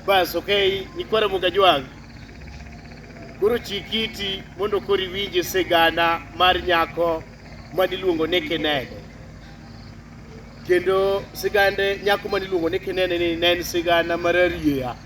Bas, okay, nikwere Mugajwang'. Koro chik iti mondo koro iwinje sigana mar nyako ma niluongo ni Kinene. Kendo sigande nyako ma niluongo ni Kinene ni ne en sigana mar arieya.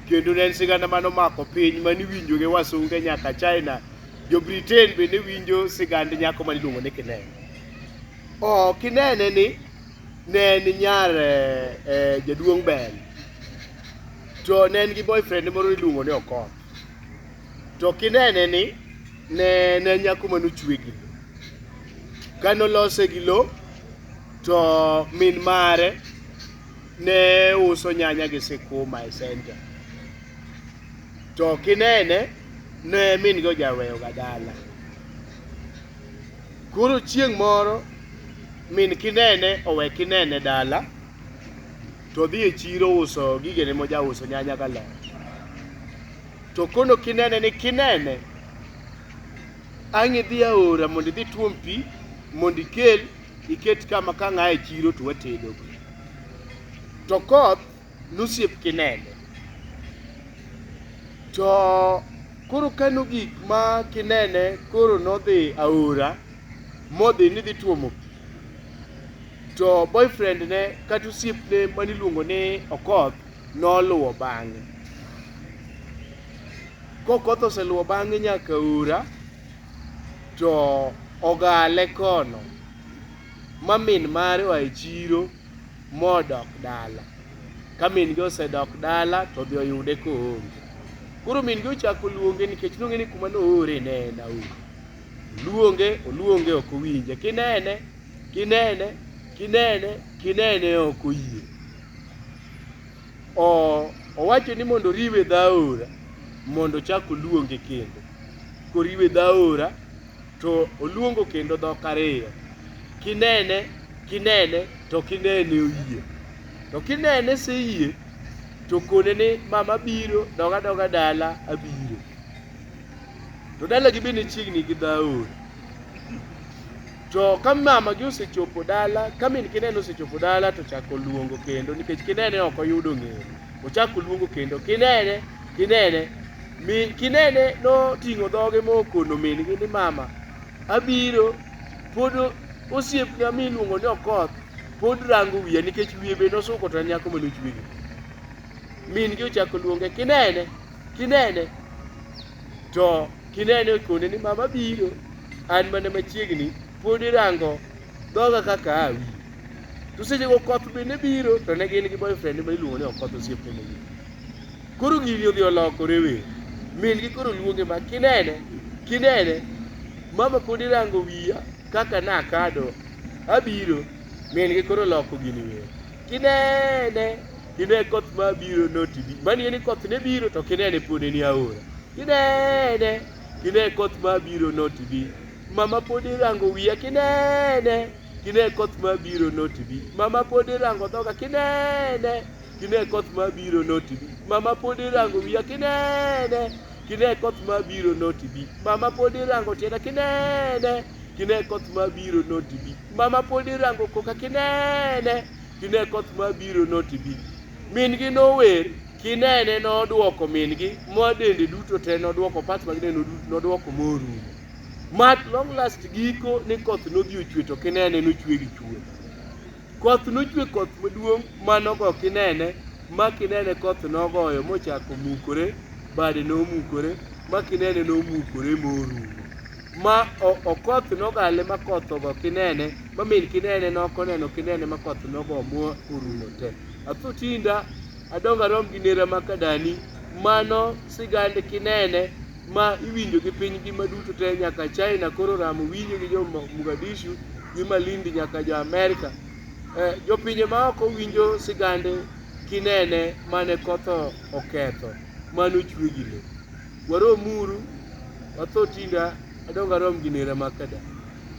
Kendo ne en sigana mane omako piny mane iwinjo gi wasunge nyaka China. Jo Britain bende winjo sigand nyako ma niluongo ni Kinene. Oh, Kinene ni ne en nyar eh, eh, jaduong' Bel to ne en gi boyfriend moro iluongo ni Okoth to kinene ni ne ne en nyako mane ochwe gi lo kane olose gi lo to min mare ne uso nyanya gi sikuma e center to kinene ne min gi ojaweyoga dala Koro chieng' moro min kinene owe kinene dala to odhi e chiro uso gigene mojauso nyanya galot to kono kinene ni kinene ang' idhi aora mondo idhi tuom pi mondo ikel iket kama ka ng'a e chiro to watedogo to koth nosiep Kinene. To koro ka nogik ma Kinene koro nodhi aora modhi ni dhi tuomo pi. To boyfriend ne kata osiepne mane iluongo ni Okoth noluwo bang'e. Kokoth oseluwo bang'e nyaka aora to ogale kono ma min mare oa e chiro modok dala. Ka min gi osedok dala to odhi oyude koonge. Koro min gi ochako luonge nikech nong'e ni kuma noore ne en aora. Luonge, oluonge ok owinje. Kinene, kinene, kinene, kinene ok oyie. O- Owacho ni mondo oriwe dho aora mondo ochak oluonge kendo. Koriwe dho aora to oluongo kendo dhok ariyo. Kinene, kinene, to kinene oyie. To kinene se yie, to kone ni mama biro, doga doga dala abiro. To dalagi be ne chiegni gi dhaor. To ka mamagi osechopo dala, ka min kinene osechopo dala to chako luongo kendo nikech kinene ok oyudo ng'eyo. Ochako luongo kendo, kinene, kinene. Mi kinene noting'o dhoge mokono min-gi ni mama, abiro. Pod osiepna miluongo ni Okoth pod rango wiya nikech wiye be nosuko to en nyako mane ochwegi. Min-gi ochako luonge, kinene, kinene. To kinene okone ni mama abiro, an mana machiegni, pod irango Dhoga kaka awi. To seche go koth bende biro to ne gin gi boyfriend ma iluongo ni Okoth osiepne moro. Koro gini odhi olokore we. Min gi koro luonge ma kinene, kinene. Mama pod irango wiya kaka nakado. Abiro. Min gi koro loko gini we. Kinene, kine koth ma biro noti bi. Mani ni koth ne biro to kinene pod en aora. Kinene, kine koth ma biro noti bi. Mama pod irango wiya kinene kine koth ma biro notibi mama pod irango dhoga kinene kine koth ma biro notibi mama pod irango wiya kinene kine koth ma biro notibi mama pod irango tienda kinene kine koth ma biro notibi mama pod irango koka kinene kine koth ma biro notibi min gi nower kinene nodwoko min gi ma dende duto te nodwoko pat mag dende nodwoko morumo Mat long last giko ni koth nodhi ochwe to kinene nochwe gi chwe. Koth nochwe koth maduong' manogo kinene ma kinene koth nogoyo mochako mukore bade nomukore ma kinene nomukore morumo ma okoth nogale ma koth ogo kinene ma min kinene nokoneno kinene ma koth nogo mo orumo te. Atho tinda adongo arom gi nera makadani mano sigand kinene ma iwinjo gi piny ngima duto te nyaka China koro ramo winjo gi jo Mogadishu gi Malindi nyaka jo Amerika. Eh, jopinje maoko winjo sigande kinene mane kotho oketho mane ochwe gi le. Waromuru watho tinda adong arom gi nera makada.